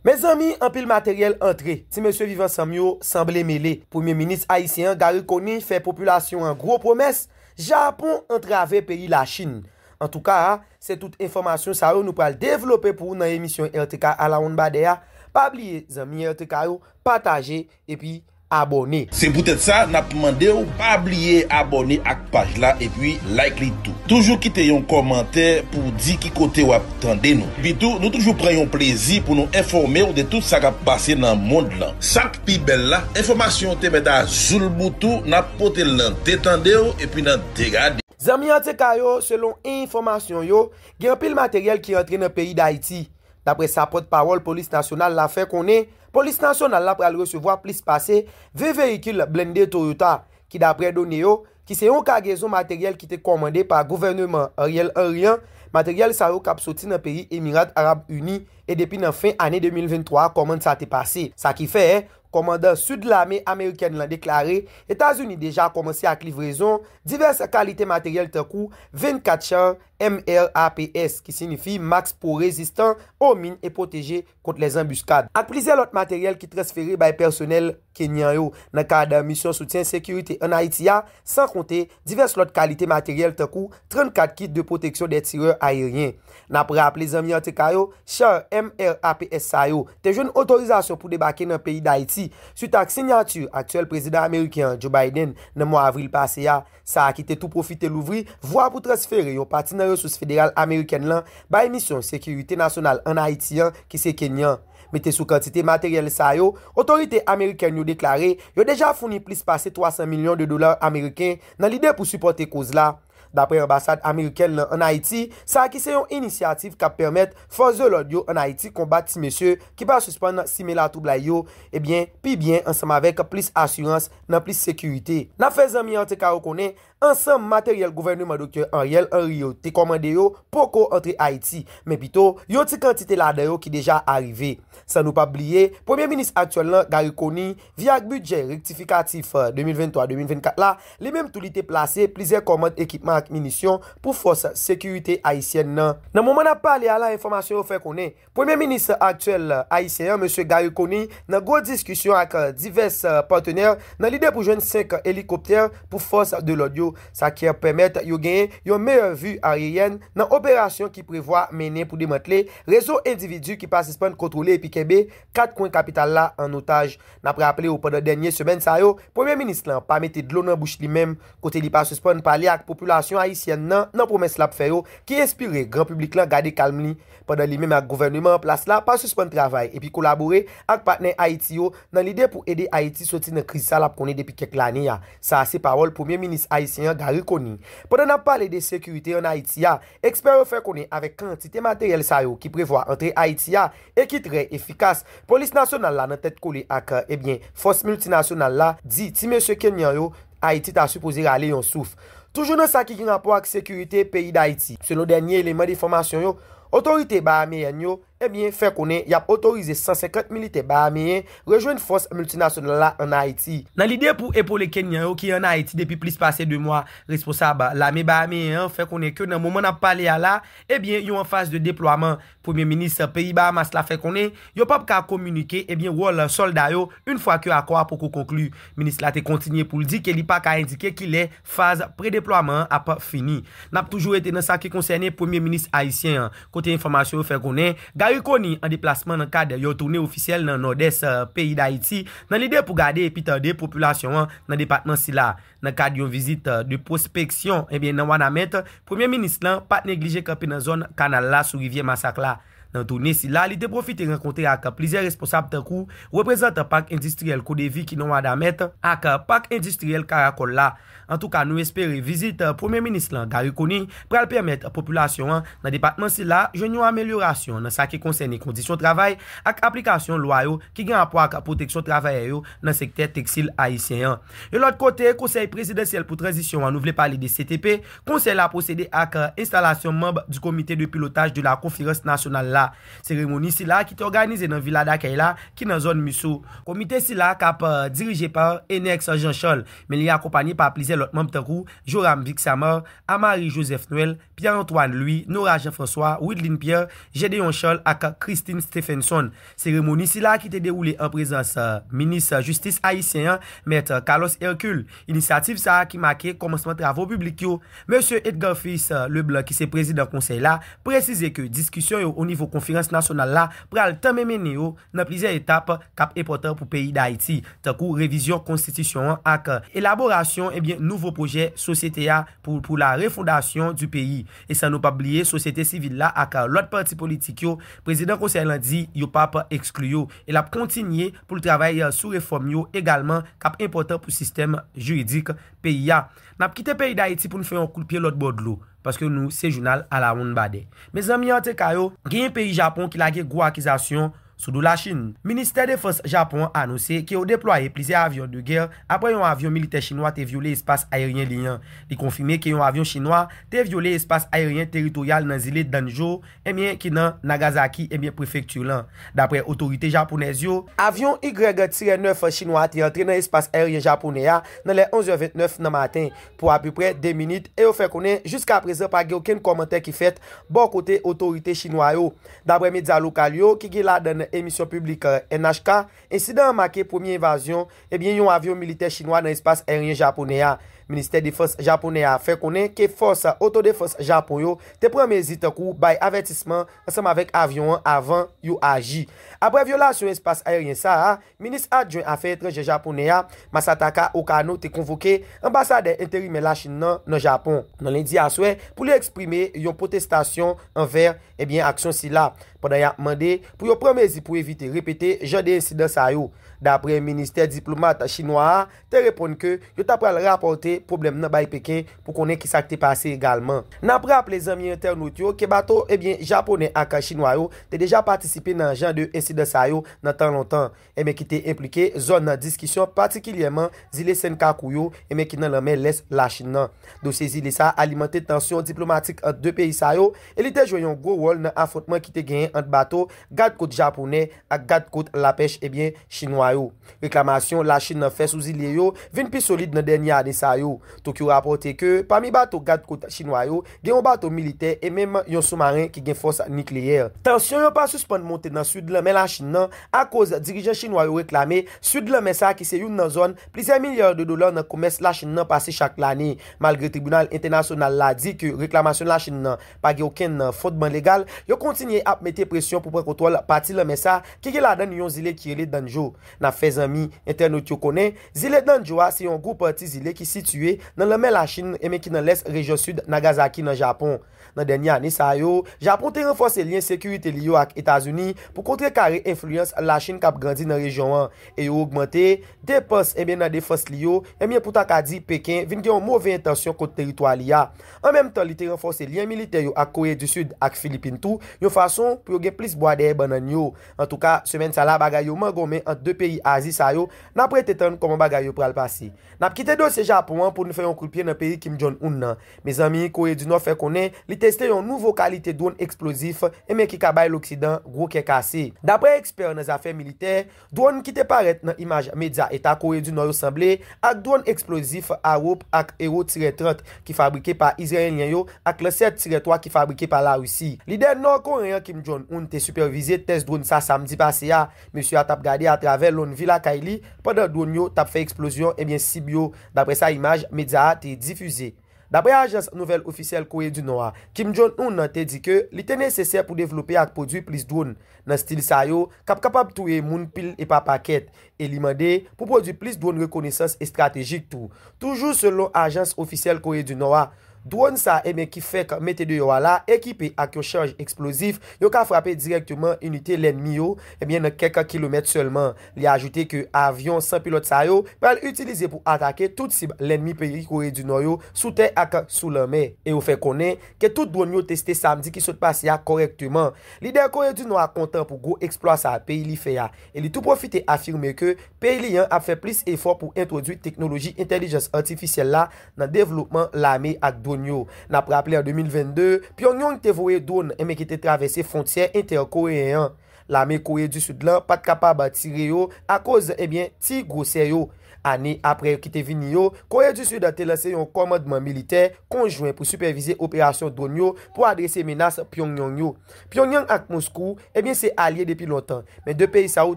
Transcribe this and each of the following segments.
Mezanmi anpil materyèl antre, ti mesye viv ansanm yo sanble mele, premye minis ayisyen an Garry Conille fè popilasyon an gwo pwomès, Japon antrave peyi Lachin. Antouka a, se tout enfòmasyon sa yo nou pral devlope pou ou nan emisyon RTK Alawonnbadè a, pa bliye zanmi RTK yo pataje epi abòne. Se poutèt sa nap mandew pa bliye abòne ak paj la epi like li tou. Toujou kite yon kòmantè pouw di ki kote wap tande nou. Epitou nou toujou pran yon plezi pou nou enfòmew de tout sa kap pase nan mond lan. Sak pi bèl la, enfòmasyon te mèt a zoulboutou nap potel nan de tandew epi nan de gadew. Zanmi RTK yo, selon enfòmasyon yo, gen anpil materyèl ki antre nan peyi Dayiti, daprè sa pòt pawòl polis nasyonal la fè konnen Polis Nasyonal la pral resevwa plis pase 20 veyikil blende Toyota, ki daprè done yo, ki se yon kagezon materyèl ki te kòmande pa gouvèneman Ariel Henry an, materyèl sa yo kap soti nan peyi Emirat Arab Ini, e depi nan fen ane 2023 a kòmand sa te pase. Sa ki fè, kòmandan Sid lame amerikèn lan deklare Etazini deja kòmanse ak livrezon divès kalite materyèl tankou 24 char MRAPS, ki sinifi Max Pro Rezistan o Min e Pwoteje kont lè zanbiskad, ak plizyè lòt materyèl ki transfere bay pèsonèl kenyan yo nan kad misyon soutyen sekirite an Ayiti a, san konte divès lòt kalite materyèl tankou 34 kit de pwoteksyon dè tirè ayeryen. N ap raple zanmi RTK yo, char MRAPS sa yo te jwenn otorizasyon pou debake nan peyi Dayiti, swit ak sinyati aktyèl prezidan ameriken an, Joe Biden, nan mwa avril pase a, sa a ki te tou pwofite louvri vwa pou transfere yon pati nan resous federal amerikèn lan bay Misyon Sekirite Nasyonal ann Ayiti an ki se kenyan. Mete sou kantite materyèl sa yo, otorite amerikèn yo deklare yo deja founi plis pase 300 milyon de dola ameriken nan lide pou sipòte koz la, dapre anbasad amerikèn lan ann Ayiti, sa a ki se yon inisyativ k ap pèmèt fòs de lòd yo ann Ayiti konbat ti mesye ki pa sispann simen latwoublay yo, ebyen, pi byen ansanm avèk plis asirans. nan plis sekirite. N ap fè zanmi RTK yo konnen, ansanm materyèl gouvèneman Doktè Ariel Henry yo te kòmande yo poko antre Ayiti, men pito yon ti kantite ladan yo ki deja arive. San nou p ap bliye, Premye Minis aktyèl lan, Garry Conille, via ak bidjè rektifikatif 2023-2024 la, li menm tou li te plase plizyè kòmand ekipman ak minisyon pou fòs sekirite ayisyèn nan. Nan moman n ap pale a la enfòmasyon yo fè konnen, Premye minis aktyèl ayisyen an, Mesye Garry Conille, nan gwo diskisyon ak divès patenè nan lide pou jwenn 5 elikoptè pou fòs de lòd yo, sa ki ap pèmèt yo genyen yon meyè vi aryeyèn nan operasyon ki prevwa mennen pou demantle rezo endividi ki pa sispann kontwole epi kenbe 4 kwen kapital la an otaj. N ap raple w pandan dènye semèn sa yo, premye minis lan pa mete dlo nan bouch li menm kote li pa sispann pale ak popilasyon ayisyèn nan nan pwomès l ap fè yo ki enspire gran piblik lan gade kalm li pandan li menm ak gouvèneman an plas la pa sispann travay epi kolabore ak patnè Ayiti yo nan lide pou ede Ayiti soti nan kriz sa l ap konnen depi kèk lane a, sa a se pawòl Premye Minis ayisyen an Garry Conille. Pandan n ap pale de sekirite ann Ayiti a, ekspè yo fè konnen avèk kantite materyèl sa yo ki prevwa antre Ayiti a e ki trè efikas, Polis Nasyonal la nan tèt kole ak, ebyen, fòs miltinasyonal la, di ti mesye kenyan yo, Ayiti ta sipoze rale yon souf. Toujou nan sa ki gen rapò ak sekirite peyi Dayiti, selon dènye eleman de fòmasyon yo, otorite Bahameyèn yo, ebyen, fè konnen y ap otorize 150 militè Bahameyen rejwenn fòs miltinasyonal la an Ayiti. Nan lide pou epole Kenyan yo ki an Ayiti depi plis pase 2 mwa, responsab lame Bahameyen an fè konnen ke nan moman n ap pale a la, ebyen, yo an faz de deplwaman Premye minis peyi Bahamas la fè konnen yo pap ka kominike ebyen wòl sòlda yo yn fwa ke akò a poko konkli. Minis la te kontinye pou l di ke li pa ka endike kilè faz pre-deplwaman an ap fini. Nap toujou rete nan sa ki konsène premye minis ayisyen an, kote enfòmasyon yo fè konnen Garry Conille an deplasman nan kad yon toune ofisyèl nan Nòdès peyi Dayiti nan lide pou gade epi tande popilasyon an nan depatman sila. Nan kad yon vizit de pwospeksyon nan Wanament, Premye Minis lan pat neglije kanpe nan zòn kanal la sou rivyè Masak la. Nan toune sila, li te pwofite rankontre ak plizyè responsab tankou reprezantan Pak Endistriyèl Kodevi ki nan Wanament, ak Pak Endistriyèl Karakòl la. Antouka nou espere vizit Premye Minis lan Garry Conille pral pèmèt popilasyon an nan depatman sila jwenn yon amelyorasyon nan sa ki konsène kondisyon travay ak aplikasyon lwa yo ki gen rapò ak pwoteksyon travayè yo nan sektè teksil ayisyen an. Yon lòt kote, Konsèy Prezidansyèl pou Tranzisyon an, nou vle pale de CTP, konsèy la pwosede ak enstalasyon manb du Comité de Pilotage de la Conférence Nationale la. Seremoni sila ki te òganize nan Vila Dakèy la, ki nan zòn Musseau. Komite sila k ap dirije pa Enex Jean Charles, men li akonpanye pa plizyè lòt manb tankou, Joram Vixamar, Amary Joseph Noël, Pierre Antoine Louis, Norah Jean François, Wideline Pierre, Gédéon Charles ak Christine Stephenson. Seremoni sila ki te dewoule an prezans Minis Jistis ayisyen an, Mèt Carlos Hercule. Inisyativ sa ki make kòmansman travo piblik yo. Mesye Edgar Fils Leblanc ki se prezidan konsèy la, presize ke diskisyon yo onivo konferans nasyonal la pral tanmen mennen yo, nan plizyè etap k ap enpòtan pou peyi Dayiti, tankou revizyon konstitisyon an ak elaborasyon ebyen nouvo pwojè sosyete a pou pou la refondation du pays, e san nou p ap bliye sosyete sivil la ak lòt pati politik yo, prezidan konsèy lan di yo p ap ekskli yo e l ap kontinye pou l travay sou refòm yo egalman k ap enpòtan pou sistèm jiridik peyi a. N ap kite peyi Dayiti pou n fè yon kout pye lòtbò dlo. paske nou se jounal alawonnbadè. Mezanmi anteka yo, genyen peyi Japon ki lage gwo akizasyon sou do Lachin. Ministè Defans Japon an anonse ke yo deplwaye plizyè avyon de gè apre yon avyon militè chinwa te vyole espas ayeryen li an. Li konfime ke yon avyon chinwa te vyole espas ayeryen teritoryal nan zile Danjo Ebyen ki nan Nagasaki ebyen prefekti lan, dapre otorite japonèz yo. Avyon Y-9 chinwa a te antre nan espas aeryen japonè a nan lè 11 è 29 nan maten pou apeprè 2 minit e yo fè konnen jiskaprezan pa gen okenn kòmantè ki fèt bò kote otorite chinwa yo, dapre medya lokal yo ki gen ladann emisyon piblik NHK. Ensidan an make premye evazyon ebyen yon avyon militè chinwa nan espas aeryen japonè a. Ministè Defans japonè a fè konnen ke fòs otodefans Japon yo te pran mezi tankou bay avètisman ansanm avèk avyon an avan yo aji. Aprè vyolasyon espas aeryen sa a, Minis Adjwen Afè Etranjè Japonè a, Masataka Okano te konvoke Anbasadè Enterimè Lachin nan nan Japon, nan lendi aswè, pou li eksprime yon pwotestasyon anvè Ebyen aksyon sila, pandan yap mande pou yo pran mezi pou evite repete jan de ensidan sa yo. Dapre ministè diplomat chinwa a te reponn ke yo ta pral rapòte pwoblèm nan bay Peken pou konnen kisa k te pase egalman. Nap raple zanmi entènot yo ke bato ebyen japonè ak chinwa yo te deja patisipe nan jan de ensidan sa yo nan tan lontan. Enben ki te enplike zòn nan diskisyon, patikilyèman zile Senkakou yo, enben ki nan lanmè lès Lachin nan. Dosye zile sa a alimante tansyon diplomatik ant 2 peyi sa yo e li te jwe yon gwo wòl nan afwontman ki te genyen ant bato gadkot japonè ak gadkot lapèch ebyen chinwa yo. Reklamasyon Lachin nan fè sou zile yo vin pi solid nan dènye ane sa yo. Tokyo rapòte ke pami bato gadkot chinwa yo, gen yon bato militè e menm yon soumaren ki gen fòs nikleyè. Tansyon yo pa sispann monte nan sid lanmè Lachin nan akoz dirijan chinwa yo reklame sid lanmè sa ki se youn nan zòn plizyè milya de dola nan komès Lachin nan pase chak lane. Malgre tribinal entènasyonal la di ke reklamasyon Lachin nan pa gen okenn fondman legal, yo kontinye ap mete presyon pou pran kontwòl pati lanmè sa ki gen ladann yon zile ki rele Danzhou. N ap fè zanmi, entènot yo konnen, zile Danjo a se yon gwoup ti zile ki sitiye nan lanmè Lachin e men ki nan lès rejyon sid Nagazaki nan Japon. Nan dènye ane sa yo, Japon te ranfòse lyen sekirite li yo ak Etazini pou kontrekare enfliyans Lachin k ap grandi nan rejyon an e yo ogmante depans e men nan defans li yo e men pou ta ka di Peken vin gen yon move entansyon kont teritwa li a. An menm tan li te ranfòse lyen militè yo ak Kore di Sid ak Filipin tou yon fason pou yo gen plis bwa dèyè bannann yo. Antouka, semèn sa la bagay yo mangonmen ant 2 peyi Azi sa yo, n ap rete tann kòman bagay yo pral pase. N ap kite dosye Japon an pou n fè yon kout pye nan peyi Kim Jong Un nan. Mezanmi, Kore di Nò fè konnen li teste yon nouvo kalite dwonn eksplozif enben ki ka bay loksidan gwo kè kase. Daprè ekspè nan zafè militè, dwonn ki te parèt nan imaj medya Eta Kore di Nò yo sanble ak dwonn eksplozif Arrow ak Hero-30 ki fabrike pa Izraelyen yo ak lansè tirè 3 ki fabrike pa Larisi. Lidè Nò Koreyen an Kim Jong Un te sipèvize tès dwòn sa samdi pase a. Mesye a tap gade atravè lonnvi lakay li pandan dwòn yo tap fè eksplozyon ebyen sib yo, daprè sa imaj medya a te difize. Daprè ajans nouvèl ofisyèl Kore di Nò a, Kim Jong Un te di ke li te nesesè pou devlope ak pwodwi plis dwòn nan stil sa yo kap kapab touye moun pil e pa pakèt e li mande pou pwodui plis dwòn rekonesans estratejik tou. Toujou selon ajans ofisyèl Kore di Nò a, dwòn sa e men ki fèk mete deyò a la ekipe ak yon chaj eksplozif, yo ka frape dirèkteman inite lènmi yo e men nan kèk kilomèt sèlman. Li ajoute ke avyon san pilòt sa yo pral itilize pou atake tout sib lènmi peyi Kore di Nò yo sou tè ak sou lanmè. E yo fè konnen ke tout dwòn yo teste samdi ki sot pase a kòrèkteman. Lidè Kore di Nò a kontan pou gwo eksplwa sa peyi li fè a e li tou pwofite afime ke peyi li an ap fè plis efò pou entwodwi teknoloji entèlijans atifisyèl la nan devlopman lame ak dwonn yo. N ap raple an 2022, Pyongyong te voye dwonn enben ki te travèse fwontyè entè-koreyen an. Lame Kore di Sid lan pa t kapab tire yo akoz enben ti gwosè yo. Ane apre yo ki te vini yo, Kore di Sid te lanse yon kòmandman militè konjwen pou sipèvize operasyon dwonn yo pou adrese menas Pyongyong yo. Pyongyang ak Moskou, ebyen se alye depi lontan, men 2 peyi sa yo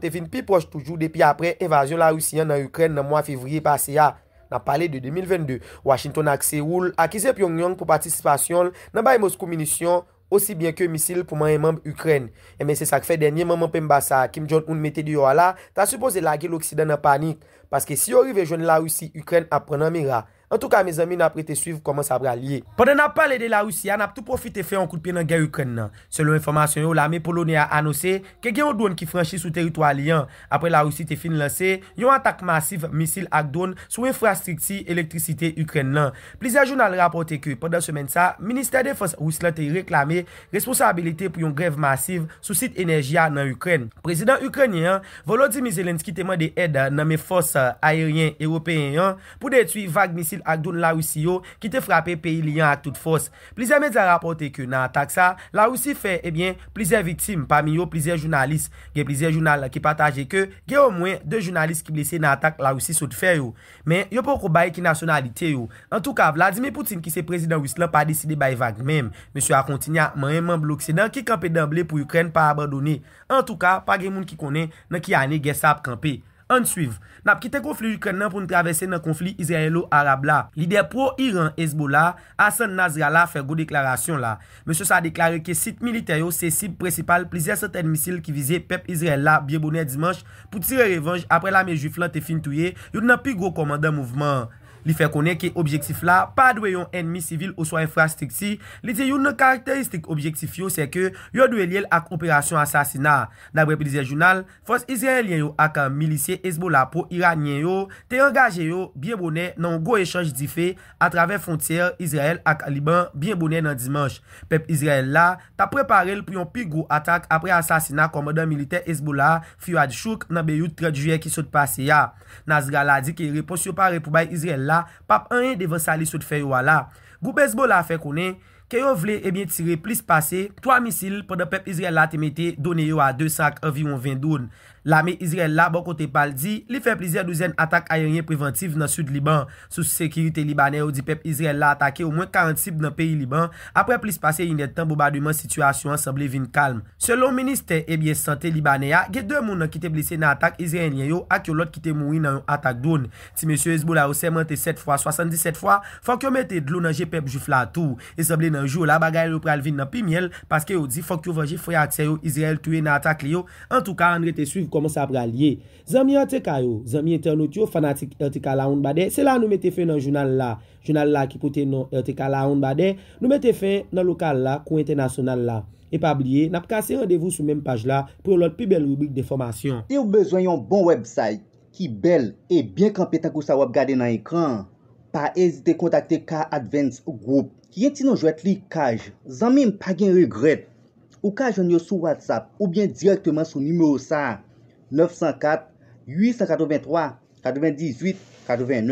te vin pi pwòch toujou depi aprè envazyon Larisi an nan Ikrèn nan mwa fevriye pase a, n ap pale de 2022. Washington ak Seoul akize Pyongyang pou patisipasyon l nan bay Moskou minisyon osi byen ke misil pou manyen manm Ikrèn. Enben se sa k fè dènye manman penmba sa a Kim Jong Un mete deyò a la ta sipoze lage loksidan nan panik, paske si yo rive jwenn Larisi Ikrèn ap pran nan mira. Antouka mezanmi nap rete swiv kòman sa pral ye. Pandan nap pale de La Rusi a nap tou pwofite fè yon kout pye nan gè Ikrèn nan. Selon enfòmasyon yo lame Polonè a anose ke gen yon dwòn ki franchi sou teritwa li an apre La Rusi te fin lanse yon atak masif misil ak dwòn sou enfrastrikti elektrisite Ikrèn nan. Plizyè jounal rapòte ke pandan semèn sa Ministè Defans Ris lan te reklame responsabilite pou yon grèv masiv sou sit enèji a nan Ikrèn. Prezidan Ikrènyen an Volodymyr Zelensky te mande èd nan men fòs ayeryen Ewopeyen an pou detwi vag misil ak dron Larisi yo ki te frape peyi li an ak tout fòs. Plizyè medya rapòte ke nan atak sa, Larisi fè, ebyen, plizyè viktim, pami yo plizyè jounalis. Gen plizyè jounal ki pataje ke gen omwen 2 jounalis ki blese nan atak Larisi sot fè yo. Men, yo poko bay ki nasyonalite yo. Antouka, Vladimir Putin ki se prezidan ris lan pa deside bay vag menm. Mesye a kontinye ap manyen manm loksidan ki kanpe danble pou Ikrèn pa abandone. Antouka, pa gen moun ki konnen nan ki ane gè sa ap kanpe. Ann swiv. Nap kite konfli Ikrèn nan pou n travèse nan konfli Izrayelo-Arab la. Lidè pro-Iran Hezbollah, Hassan Nasrallah fè gwo deklarasyon la. Mesye sa a deklare ke sit militè yo se sib prensipal plizyè santèn misil ki vize pèp Izrayèl la byen bonè dimanch pou tire revanj apre lame jwif lan te fin touye youn nan pi gwo kòmandan mouvman an. Li fè konnen ke objektif la pa dwe yon ènmi sivil oswa enfrastrikti, li di youn nan karakteristik objektif yo sèke yo dwe lye l ak operasyon asasina. Daprè plizyè jounal, Fòs Izrayelyen yo ak milisye Hezbollah pwo-Iranyen yo te angaje yo byen bonè nan yon gwo echanj dife atravè fwontyè Izrayèl ak Liban byen bonè nan Dimanch. Pèp Izrayèl la t ap prepare l pou yon pi gwo atak apre asasina kòmandan militè Hezbollah Fuad Shukr nan Beyout 30 Jiyè ki sot pase a. Nasrallah di ke repons yo pare pou bay Izrayèl la p ap anyen devan sa li sot fè yo a la. Gwoup Hezbollah fè konnen. ke yo vle ebyen tire plis pase 3 misil pandan pèp Izrayèl la te mete done yo a 200 ak anviwon 20 dron. Lame Izrayèl la bò kote pa l di li fè plizyè douzèn atak ayeryen prevantiv nan sid Liban. Sous sekirite Libanè yo di pèp Izrayèl la atake omwen 40 sib nan peyi Liban apre plis pase inèdtan bonbademan sitiyasyon an sanble vin kalm. Selon ministè ebyen sante Libanè a gen 2 moun an ki te blese nan atak Izrayenlyen yo ak yon lòt ki te mouri nan yon atak dron Ti mesye Hezbollah yo sèmante 7 fwa, 77 fwa, fòk yo mete dlo nan je pèp jwif la tou. E sanble nan jou la bagay yo pral vin nan pi myèl paske yo di fòk yo vanje frè ak sè yo Izrayèl touye nan atak li yo, antouka ann rete swiv kòman sa pral ye. Zanmi RTK yo, zanmi entènot yo, fanatik RTK Lawonnbadè, se la nou mete fen nan jounal la. Jounal la ki pote non RTK Lawonnbadè, nou mete fen nan lokal la kou entènasyonal la. E pa bliye, n ap kase randevou sou menm paj la pou yon lòt pi bèl ribrik denfòmasyon. Siw bezwen yon bon website ki bèl e byen kanpe tankou sa w ap gade nan ekran an, pa ezite kontakte Car Advance Group ki gen ti non jwèt li Kaj. Zanmi m pa gen regrèt! Ou ka jwenn yo sou WhatsApp oubyen dirèkteman sou nimewo sa a, 904 883 98 89.